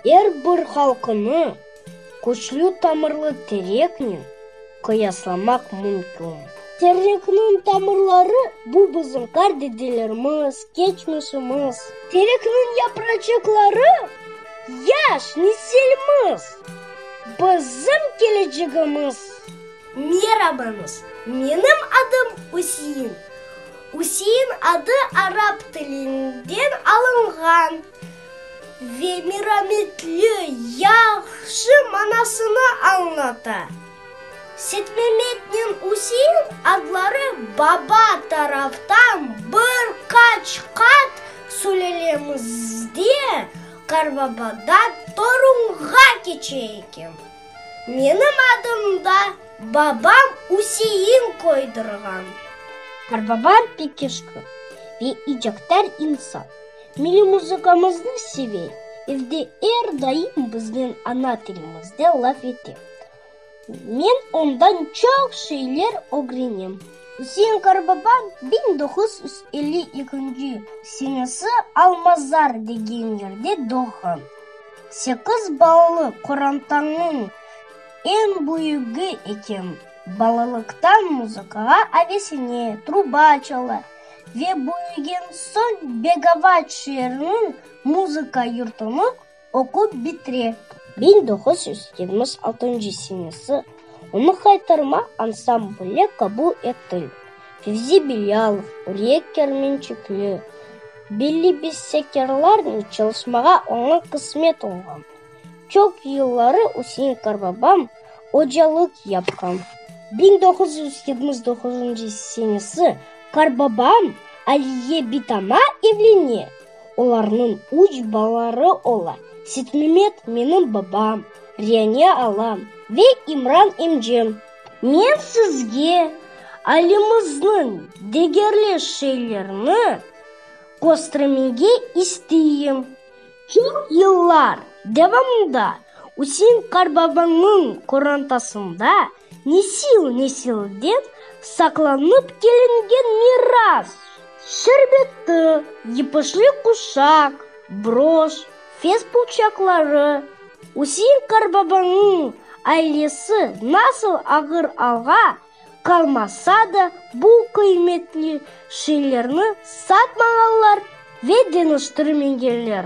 Er bir halqnı küçlü tamırlı tereknen qıyaslamaq mümkün. Terekniñ tamırları, bu bizim qar dedelerimiz, keçmişimiz. Terekniñ yapracıqları, yaş nesilimiz, bizim kelecegimiz. Merabañız, menim adım Üsein. Usein adı arap tilinden alınğan ve mirametli, yahşı manasını añlata. Setmemetnen Usein adları baba taraftan bir qaç qat sülelemizde qarbabadan torunğa keçe eken. Menim adım da babam Üsein koydurğan. Qarbaba pek eşqi ve icaktar insan. Milliy muzıkamıznı seve, evde er daim biznen ana tilimizde laf ete. Men ondan çoq şeyler ögrenem. Üsein Qarbaba biñ doquz yüz elli ekünci senesi Almazar degen yerde doğğan. Sekiz ballı qorantanıñ eñ büyügi ekem. Balalıqtan muzıkağa avesine, truba çala ve büyügen soñ Begavat şeeriniñ muzıka yurtunıñ oqup bitire. Biñ doquz yüz yigirmi altıncı senesi. Onı qaytarma ansambli qabul etil. Fevzi Bilyalov, Uriye Kermençikli, belli bestekarlarnen çalışmağa oña qısmet olğan. Çoq yılları Üsein Qarbabam ocalıq yapqan. Biñ doquz yüz yetmiş doquzuncı senesi Qarbabam Aliye Bitama evlene. Olarnıñ üç balaları ola, Sitmimet, menim babam, Rianiya alam ve İmran emcem. Men sizge alemizniñ degerli şeylerini köstermege isteyim. Çoq yıllar devamında Üsein qarbabanıñ qorantasında Nesil-nesil dep saqlanıp kelingen miras. Şerbetti, yıpışlı quşaq, broş, fes pulçaqları, Üsein qarbabanıñ ailesi nasıl ağır alğa qalmasa da bu qıymetli şeylerni satmağanlar ve deñiştirmegenler.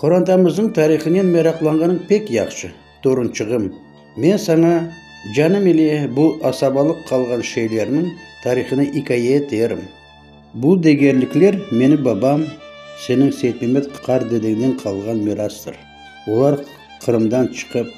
Qorantamıznıñ tarihınen meraqlanğanıñ pek yahşı, torunçığım. Men saña canım ile bu asabalıq qalğan şeylerniñ tarihını ikaye eterim. Bu degerlikler meni babam, seniñ Seytmemet qardedeñden qalğan mirastır. Olar Qırımdan çıqıp,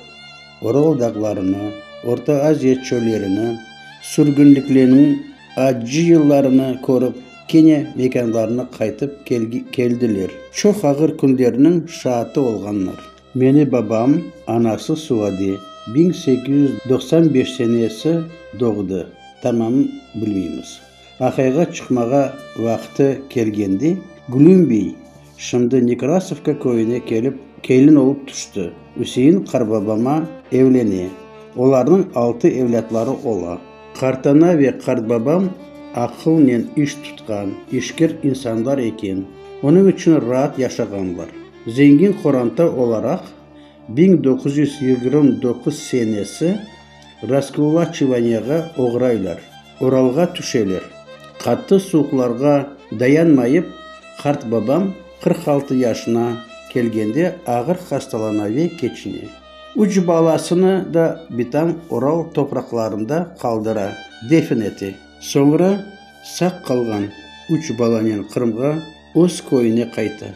Oral dağlarını, Orta Aziya çöllerini, sürgünlikleniñ acı yıllarını körip, Kene mekanlarına qaytıp keldiler. Çoq ağır künlerniñ şaatı olğanlar. Meni babam, anası Suadi, biñ sekiz yüz doqsan beş senesi doğdı, tamam bilmeymiz. Aqayğa çıqmağa vaqtı kelgende, Glümbiy, Şimdi Nekrasovka köyüne kelip, kelin olıp tüşti. Üsein qartbabama evlene. Olarnıñ altı evlâtları ola. Qartana ve qartbabam aqılnen iş tutqan, işker insanlar eken, onıñ içün raat yaşağanlar. Zengin qoranta olaraq, biñ doquz yüz yigirmi doquz senesi Raskulaçivaniyağa oğraylar, Oralğa tüşeler. Qattı suuqlarğa dayanmayıp, qart babam qırq altı yaşına kelgende ağır hastalana ve keçine. Üç balasını da bitam Oral topraqlarında qaldıra, defin ete. Soñra saq qalğan üç balanen Qırımğa. Öz köyüne qayta.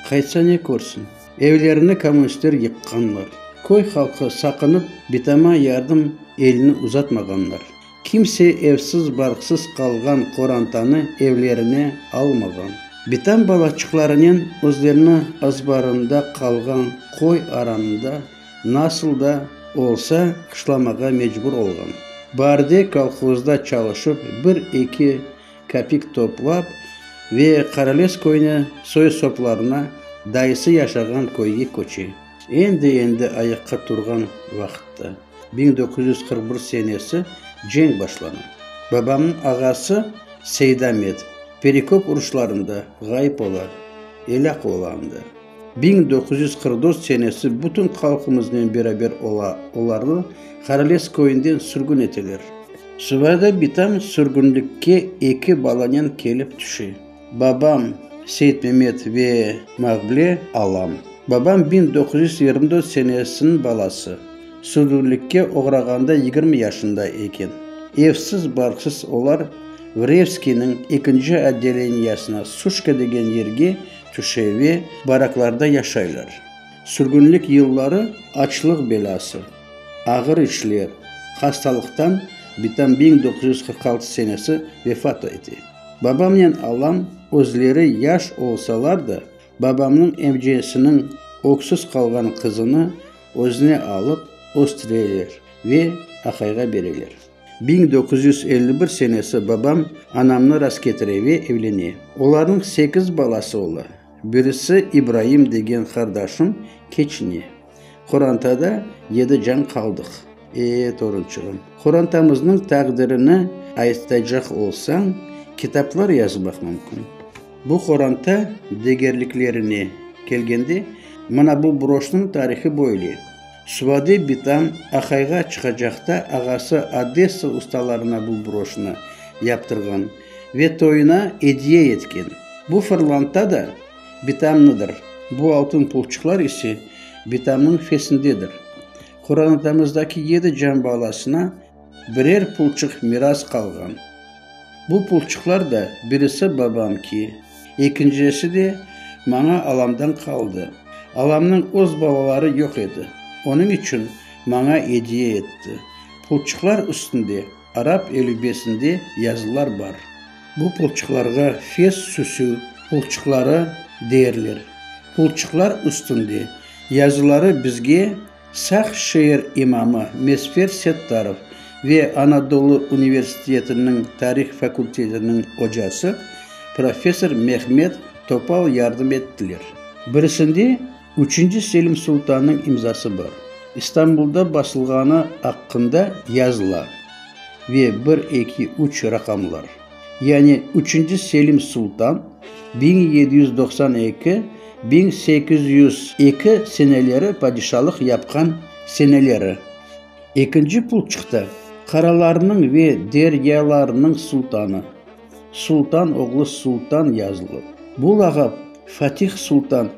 Qaytsa ne körsin? Evlerini kommunistler yıqqanlar. Köy halqı saqınıp, bitama yardım elini uzatmağanlar. Kimse evsiz-barqsız qalğan qorantanı evlerine almağan. Bitam balaçıqlarınen özlerini azbarında qalğan köy aranında nasıl da olsa qışlamağa mecbur olğan. Barde kolhozda çalışıp bir-eki Kapik toplap ve Qarales köyüne soy-soplarına dayısı yaşağan köyge köçe. Endi-endi ayaqqa turğan vaqıtta, biñ doquz yüz qırq bir senesi, cenk başlana. Babamnıñ ağası Seydamet Perikop uruşlarında ğayıp ola, elâk ola anda. Biñ doquz yüz qırq dört senesi bütün halqımıznen beraber ola, olarnı Qarales köyünden sürgün eteler. Subayda bitam sürgünlikke eki balanen kelip tüşe, babam, Seytmemet, ve Mavble, alam. Babam biñ doquz yüz yigirmi dört senesiniñ balası, sürgünlikke oğrağanda yigirmi yaşında eken. Evsiz, barksız olar Vrevskiyniñ ekinci otdeleniyasına, Suşka degen yerge, Tüşe ve baraklarda yaşaylar. Sürgünlik yılları açlıq belası, ağır işler, hastalıqtan bitam biñ doquz yüz qırq altı senesi vefat ete. Babamnen alam özleri yaş olsalar da, babamnıñ evciyesiniñ öksüz qalğan qızını özüne alıp östüreler ve aqayğa bereler. Biñ doquz yüz elli bir senesi babam anamnı rasketire ve evlene. Olarnıñ sekiz balası ola. Birisi İbraim degen qardaşım keçine. Qorantada yedi can qaldıq. E, torunçığım, qorantamıznıñ taqdirini aytacaq olsañ, kitaplar yazmaq mümkün. Bu qoranta degerliklerine kelgende, mına bu broşnıñ tarihı böyle. Svade bitam Ahayğa çıqacaqta ağası Odessa ustalarına bu broşnı yaptırğan ve toyuna ediye etken. Bu fırlanta da bitamnıdır, bu altın pulçıqlar ise bitamnıñ fesindedir. Qoranadamızdaki yedi can balasına birer pulçıq miras qalğan. Bu pulçıqlar da birisi babamki, ekincesi de maña alamdan qaldı. Alamnıñ öz balaları yoq edi, onıñ içün maña ediye etti. Pulçıqlar üstünde arap elübesinde yazılar bar. Bu pulçıqlarğa Fes süsü pulçıqları deyerler. Pulçıqlar üstünde yazıları bizge. Saq şeer imamı Mesfer Settarov ve Anadolu universitetiniñ tarih fakultetiniñ ocası professor Mehmet Topal yardım ettiler. Birisinde üçünci Selim sultannıñ imzası bar, İstanbulda basılğanı aqqında yazıla ve bir-eki-üç raqamlar. Yani üçünci Selim Sultan, biñ yedi yüz doqsan eki, biñ sekiz yüz eki seneleri padişalıq yapqan seneleri. Ekinci pul çıqtı, qaralarnıñ ve deryalarnıñ sultanı. Sultan oğlu Sultan yazılı. Bu lağap Fatih Sultan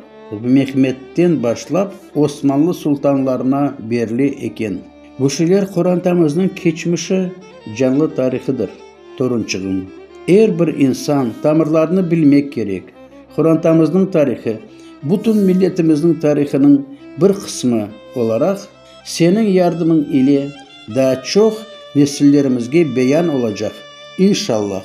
Mehmetten başlap Osmanlı sultanlarına berile eken. Güşüler qorantamıznıñ keçmişi, canlı tarihıdır. Torunçığım, er bir insan tamırlarını bilmek kerek. Qorantamıznıñ tarihı, bütün milletimizniñ tarihınıñ bir qısmı olaraq, seniñ yardımıñ ile daa çoq nesillerimizge beyan olacaq, inşallah.